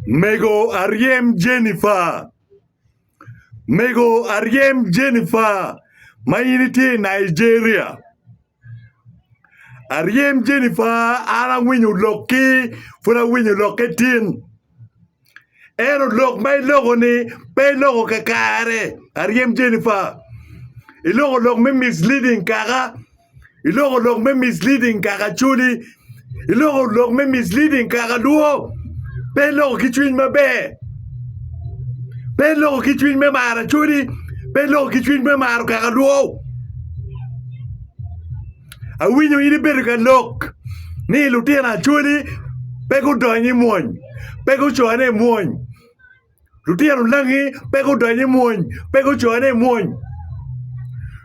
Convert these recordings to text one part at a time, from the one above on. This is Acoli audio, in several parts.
Mego aryem Jennifer. Mego aryem Jennifer ma in itye i Nigeria. Aryem Jennifer an awinyo lokki pud awinyo lokke tin. Ento lok ma iloko-ni pe iloko kakare aryem Jennifer. Iloko lok me misleading kaka iloko lok me misleading kaka acholi, iloko lok me misleading kaka alwo, pe iloko ki cwiny maber, pe iloko ki cwiny me maro acholi, pe iloko ki cwiny me maro kaka alwo. Awinyo in ibedo ka lok ni lutino acholi pe gudony i mwony, pe gucone i mwony. Lutino onagi pe gudonyo i mwony, pe gucoyone i mwony.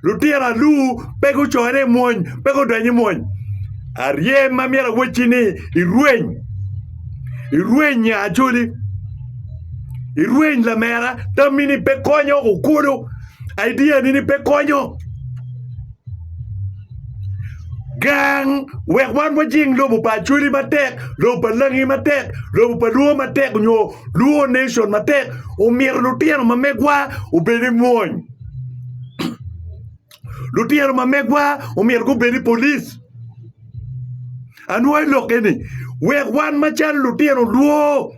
Lutino alu pe gucoyone i mwony, pe gudonyo i mwony. Arye ma myero awecci ni irweny, irweny nya acoli, irweny lamera, tammi ni pe konyo, okulo, idea ni ni pe konyo. Gang wek wan wajing lobo pa Acholi matek, lobo pa Langi matek, lobo pa Luo matek nyo Luo nation matek omyero lutino ma megwa obed ki mwony lutino ma megwa omyero gubed ki polic anwogi lok eni wek wan macalo lutino Luo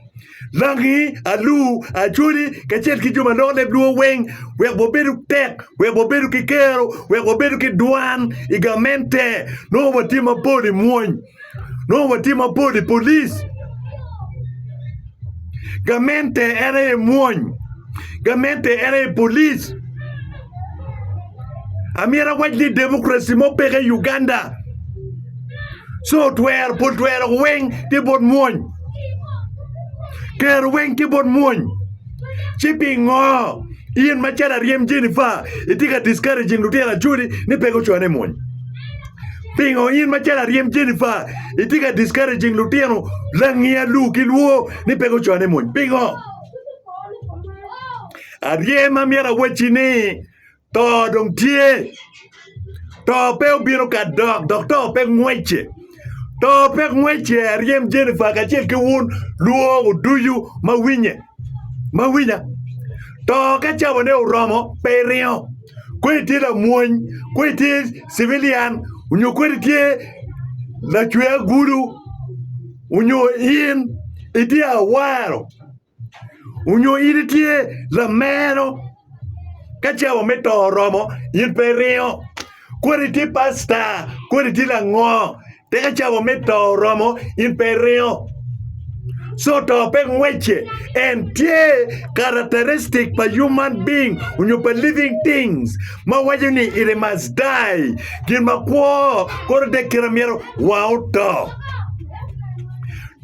Langi, alur, acholi, kacel ki jo ma loko leb lwor weng, wek wabedu tek, wek wabedu ki kero, wek wabedu ki dwan i gamente. Nongo watye mapol i mwony, nongo watye mapol i polic. Gamente en aye mwony, gamente en aye polic. Amyero awac ni democracy mo peke i Uganda, co twero, pol twero weng tye bot mwony. Kero weng tye bot mwony. Ci pingo in macalo aryem Jennifer itye ka discouraging lutino acholi ni pe gucwane i mwony? Pingo in macalo aryem Jennifer itye ka discouraging lutino langia lu ki lwo ni pe gucwane i mwony? Pingo? Aryem ma myero awacci ni To dong tye. To pe obino ka dok, dok to pe ngwece. To pe ngwece, aryem Jennifer kacel ki wun lwongo ducu ma winye, ma winya. To ka cabone oromo, pe iringo. Kodi itye lamwony, kodi itye civilian, onyo kodi itye lacwe agulu, onyo in itye awaro. Onyo in itye lameno ka cawa me to oromo in pe iringo? Kodi itye pasta, kodi itye lango te ka cawa me to oromo in pe iringo? Co to pe ngwece en tye characteristic pa human being onyo pa living things ma waco ni it must die gin ma kwo kore dok kite ma myero wa oto.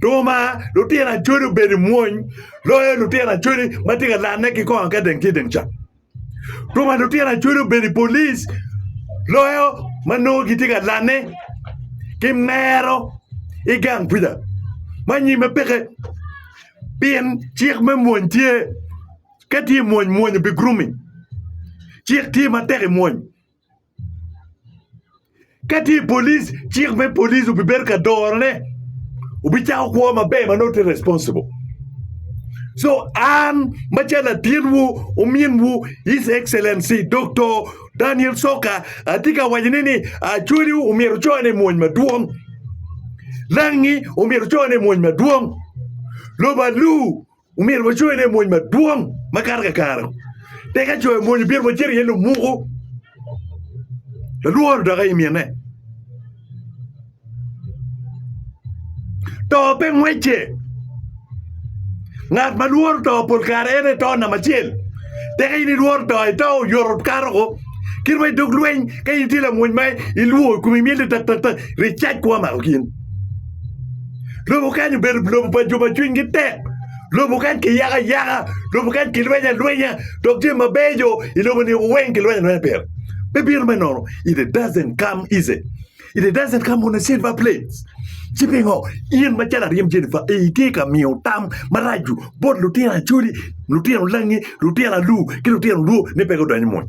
Duma, lutino acodi obedo i mwony loyo lutino acodi ma tye ka lanne ki kong akadeng ki i teng ca. Duma, lutino acodi obedo i polic loyo ma nongo gitye ka lanne ki mero i gang kwija ma anyim-mi peke pien cik me mwony tye. Ka tye i mwony, mwony obigurumi. Cik tye matek i mwony. Ka tye i police, cik me police obibedo ka dorone. Obicako kwo maber ma nongo tye responsible. So an macalo latinwu, ominwu, His Excellency Doktor Daniel Soka atye ka wacone ni Acholi omyero ocone i mwony madwong. Langi omyero ocone i mwony madwong. Lobo aluu. Omyero wacoyo ne mony madwong makato kakare. Tika coyo mony obiro wacito iye lumuku? Lalworo dok aye mine. To pe ngwecce. Ngat ma lworo to pol kare en aye to namba acel. Tika in ilworo to ito oyoto kato ko? Kit ma idog lweny ka in itye lamwony ma ilwor komi myel ni tak tak tak ri cac kwo mako gin. Lobo kany obedo lobo pa jo ma cwinygi tek lobo kany kiyako ayaka lobo kany kilwenyo alwenya dok jami mabeco i lobo-ni weng kilwenyo alwenya pire pe bino me nono it doesn't come easy it doesn't come on a silver plate ci pingo in macalo aryem Jennifer itye ka miyo tam maraco bot lutino acholi lutino langi lutino alur ki lutino orwo ni pe gudony i mony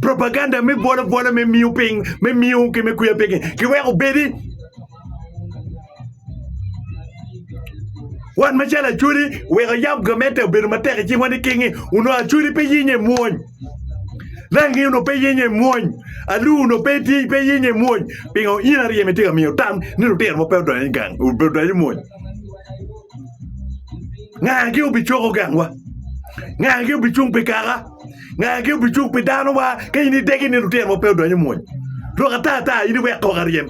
propaganda me bolo bolo me miyo piny me miyo ki me kwiya piny kiweko bedi wan macalo acwali weko yam gamente obedo matek icing wani kingi uno acwali pe yinye mwony rangi uno pe yinye mwony alu uno pe ti pe yinye mwony pingo in aryeme ti ka miyo tam ni lutino mo pe odonyo i gang odonyo i mwony ngagi obicoko gangwa ngagi obicung pi kaka Ngagi obicuk pi danowa ka in idegi ni lutinowa pe odonyo i mony. Lok ata ata, in iwek kok aryem.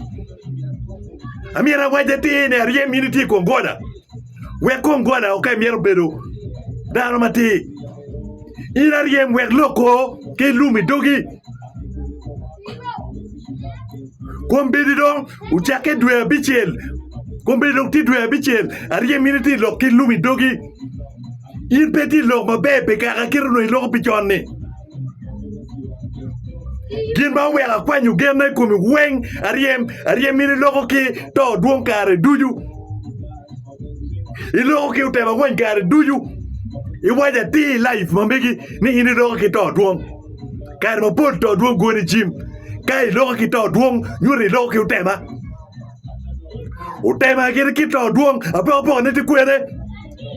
Amyero awac atir ni aryem in itye i kom gola. Wek kom gola oke myero obedo dano matir. In aryem wek lok ko ki lum i dogi. Kombeddi dong ocakke dwe abicel, kombeddi dong tye dwe abicel, aryem in itye lok ki lum i dogi. In pe itye i lok maber pi kaka kite onongo iloko pi con-ni. Gin ma oweko akwanyo genna i komi weng aryem aryem in iloko ki to dwong kare ducu, iloko ki otemo angwen kare ducu. Iwaco atir i laif ma megi ni in iloko ki to dwong, kare mapol to dwong goni jim. Ka iloko ki to dwong nyuto ni iloko ki otema. Otema gire kit to dwong, apokapokane tye kwene.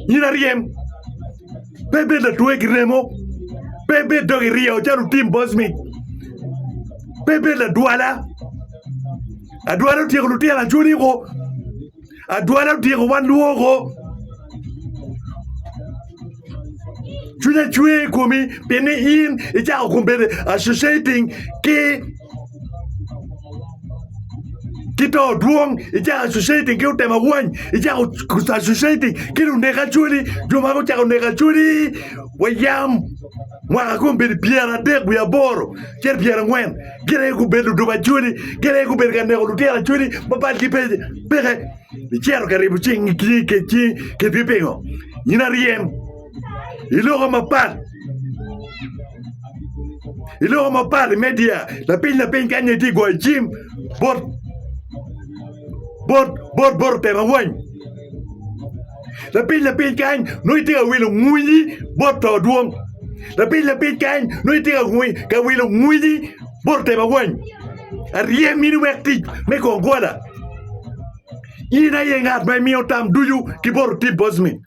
In aryem, pe ibed latwegi remo, pe ibed dog iryo calo otim bocmi, pe ibed ladwala. Adwala otyeko lutino acwoniko, adwala otyeko wan lwoko. Cwinya cwe i komi pi ni in i cako kom bene associating ki ki to dwong i cako associating ki otemo awany i cako associating ki lunek acholi jo ma gucako neko acholi wa yam mwaka kom bedi pyera adek wiye aboro cito pyera angwen gin aye gubedo ludok acholi gin aye gubedo ka neko lutino acholi ma bad gi peke Icito ka ribo cing kidgi pingo in aryem i loko mapat i loko mapat i media lapiny lapiny kany aye itye ka goyo jim bot bot bot bot otemo awany lapiny lapiny kany nongo itye ka wilo ngwinyi bot to dwong lapiny lapiny kany nongo itye ka wilo ngwinyi bot otemo awany. Arye mini wek tic me go gola. In aye ngat ma imiyo tam ducu ki bot otip bocme.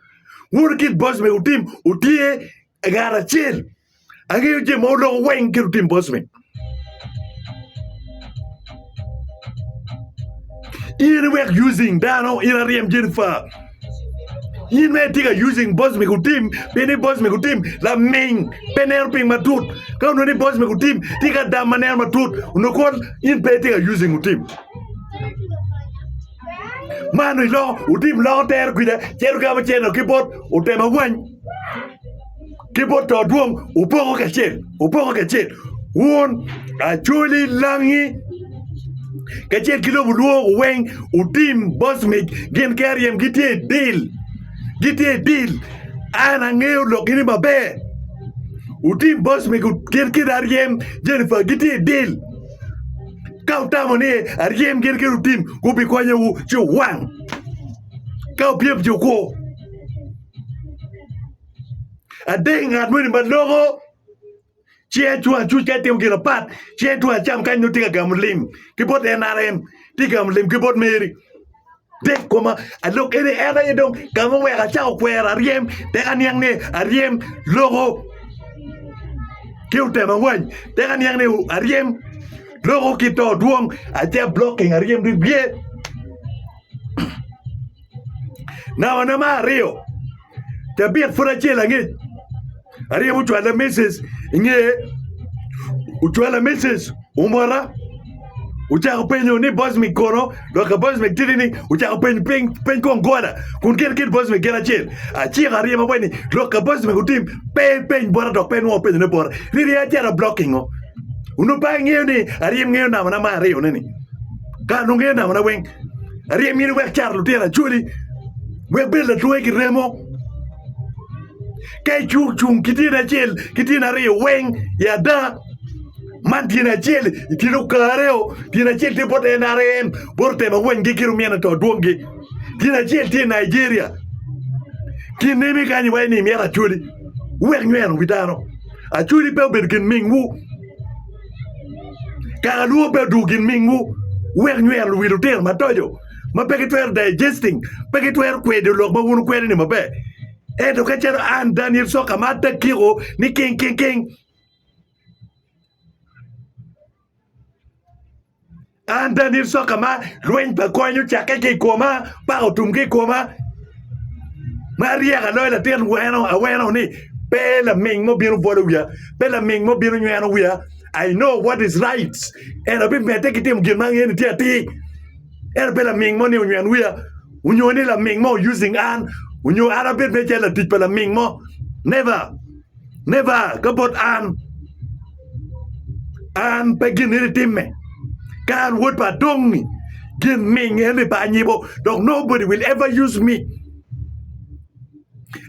Wun kit bocme wutim wutye ngat acel. Angeyo je ma wuloko weng kit wutim bocme. In iwek using dano, in aryem Jennifer. in mere itye ka using boss me gutim pien ni boss me gutim laming pe neno piny matut ka onongo ni boss me gutim tye ki adam ma neno matut onongo kong in pe itye ka using gutim ma onongo iloko gutim loko tero kwija cito ki kama cer nongo ki bot otem awany. ki bot to dwong opoko kacel opoko kacel wun acoli langi kacel ki lobo lwongo weng otim bosmic gin ki aryem gitye i dil gitye i dil an angeyo lok ini maber otim bosmic gin ki aryem Jennifer gitye i dil ka utamo ni aryem gin ki otim gubikonyowu ci owang ka opyem ci okwo Adek ngat moni ma loko ci en tung acuc ka etimo gin apat ci en tung acam kany nongo tye ka gamo lim ki bot NRM tye ka gamo lim ki bot Meri dek koma alok ene en aye dong ka ma oweko acako kwero aryem tek aniang ni aryem loko ki otemo awany tek aniang ni aryem loko ki to dwong ace ablocking aryem bye nambane me aryo Tabit pud acel angec. Aryemo cwalla Mrs. inge ocwalla Mrs. omota ocako penyo ni Bosmic kono dok ka Bosmic tidi ni ocako peny peny peny kong gola kun gin kit Bosmic gin acel aciko aryemo bene ni lok ka Bosmic otim pe peny bota dok pe nongo penyo ne bota ni ryeye acito blocking o onongo pe angeyo ni aryem ngeyo namba na ma aryo ne ni kara nongo ngeyo namba na weng aryem in iwek car lutino acholi Wek bed latwoki ki remo. Ka icung cung ki tyene acel ki tyene aryo weng i ada, man tyene acel i tyene okareo, tyene acel tye bot NRM, bot otemo awenngi ki rumyene to dwoggi. Tyene acel tye i Nigeria. Kinemi kany iwaco ni imyero Acholi wek nyweno wi dano. Acholi pe obedo gin mingwu. Kakalwor pe odwogo gin mingwu wek nyweno wi lutino matoco. ma pe gitwero digesting, pe gitwero kwedo lok ma wun wukwedo ni maber. Ento ka calo an Daniel Sok amar ta kiko ni king king king. An Daniel Sok amar lweny pa kony ocakke ki i koma, paka otum ki i koma. Ma aryek aloyo latin weno aweno ni pe laming mo bino bwolo wiya, pe laming mo bino nyweno wiya. I know what is right. Ento abimedde ki timo gin ma angene tye atir. En abe laming mo ni onywen wiya, onyo ni laming mo using an, onyo an abed me calo latic pa laming mo. Never! Never! Ka bot an, an pe gin nini timme. Ka an wod pa adongi, gin ming en ni pa anyibo, dok nobody will ever use me.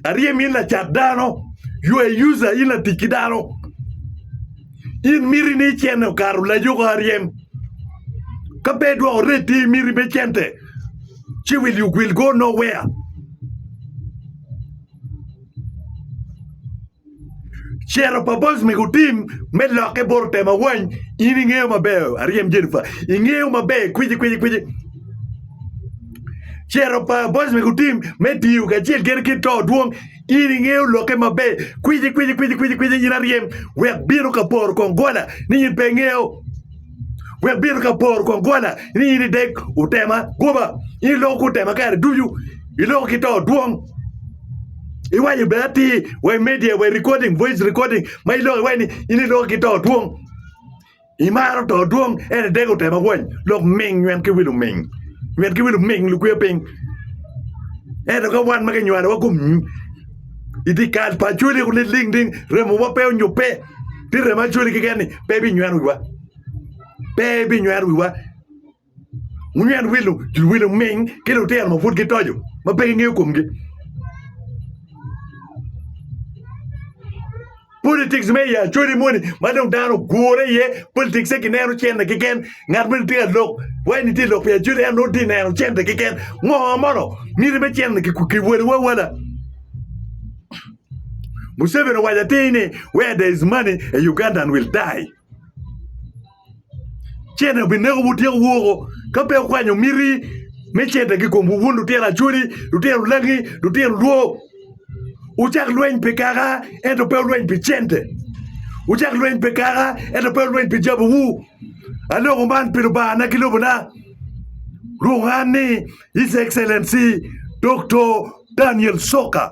Aryem in lacat dano, you a user in latic ki dano. In miti ni cente okato layuko aryem. Ka pe idwoko red ti miti me cente, ci will you will go nowhere. Ciro pa boys me gutim me lokke boro tema wany in ingeyo maber aryem Jennifer ingeyo maber kwiji kwiji kwiji Ciro pa boys me gutim me tiyo kacel kene ki to dwong in ingeyo lokke maber kwiji kwiji kwiji kwiji kwiji in aryem wek bino ka poro kong gola ni in pe ingeyo wek bino ka bor kong gola ni in idek utema goba in iloko ku tema kare ducu iloko ki to dwong iwaco be ati we media we recording voice recording ma iloko iwaco ni in iloko ki to dwong imaro to dwong en idek utema wany lok ming nywet ki wil oming nywet ki wil oming lukwe piny ento ka wan ma kinywalowa kum i dye kal pa Acholi kulu niling ni remowa pe onyubbe, ti remo Acholi keken-ni pe ebinyweno wiwa, pe ebinyweno wiwa. Wunyweno wil luwil oming ki lutino ma pud gitoco ma pe gingeyo komgi. Politics me i Acholi moni ma dong dano ogure iye, politics egi neno cente keken, ngat moni tye ka lok wai ni tye ka lok pi Acholi en nongo tye ka neno cente keken, ngo mono miti me cente ki wele wawala, Museveni owaco atir ni where there is money a Ugandan will die. cente obineko wutyeko woko ka pe wukwanyo miti me cente ki komwu wun lutino acholi lutino langi lutino lwo wucak lweny pi kaka ento pe wulweny pi cente wucak lweny pi kaka ento pe wulweny pi jabuwu aloko man pi Lubangana ki lobona rwongo an ni His Excellency Doktor Daniel Coka.